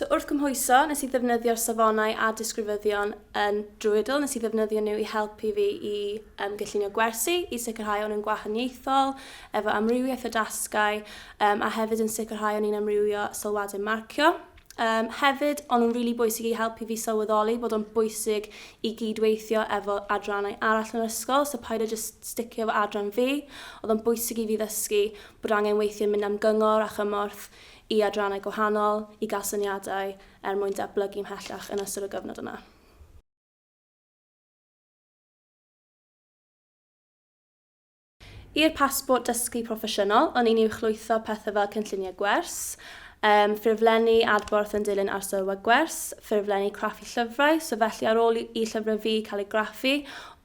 So wrth gymhwyso, nes i ddefnyddio'r safonau a disgrifyddion yn Druidle, nes i ddefnyddio nhw i helpu fi i um, gyllunio gwersi, i sicrhau o'n yn gwahaniaethol, efo amrywiaeth o dasgau, um, a hefyd yn sicrhau o'n i'n amrywio sylwadau marcio. Yym, hefyd, o'n nhw'n rili bwysig i helpu fi sylweddoli bod o'n bwysig i gyd-weithio efo adrannau arall yn yr ysgol, so paid â jyst sticio efo adran fi. Oedd o'n bwysig i fi ddysgu bod angen weithio mynd am gyngor a chymorth i adrannau gwahanol i gael syniadau er mwyn datblygu mhellach yn ystod y gyfnod yna. I'r pasbort dysgu proffesiynol, o'n i'n uwchlwytho pethau fel cynlluniau gwers, yym, ffurflenni adborth yn dilyn arsylwau gwers, ffurflenni craffu llyfrau, so felly ar ôl i llyfrau fi cael eu graffu,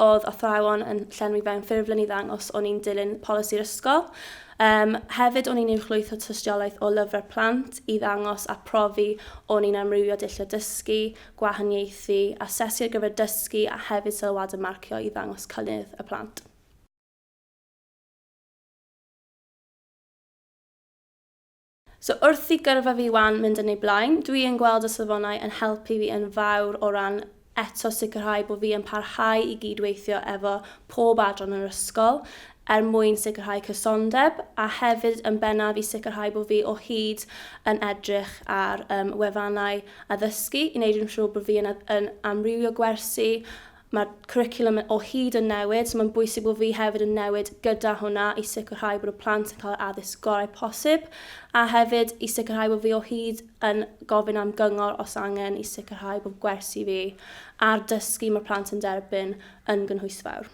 oedd athrawon yn llenwi fewn ffurflen i ddangos o'n i'n dilyn polisi'r ysgol. Yym, hefyd o'n i'n uwchlwytho tystiolaeth o lyfrau plant i ddangos a profi o'n i'n amrywio dulliau dysgu, gwahaniaethu, asesu ar gyfer dysgu a hefyd sylwadau marcio i ddangos cynnydd y plant. So wrth i gyrfa fi 'wan mynd yn ei blaen, dwi yn gweld y safonau yn helpu fi yn fawr o ran eto sicrhau bod fi yn parhau i gyd-weithio efo pob adran yr ysgol er mwyn sicrhau cysondeb a hefyd yn bennaf i sicrhau bod fi o hyd yn edrych ar um, wefannau addysgu i wneud yn siŵr bod fi yn, yn amrywio gwersi Mae'r cwricwlwm o hyd yn newid, so mae'n bwysig bod fi hefyd yn newid gyda hwnna i sicrhau bod y plant yn cael yr addysg gorau posib, a hefyd i sicrhau bod fi o hyd yn gofyn am gyngor os angen i sicrhau bod gwersi fi a'r dysgu mae'r plant yn derbyn yn gynhwysfawr.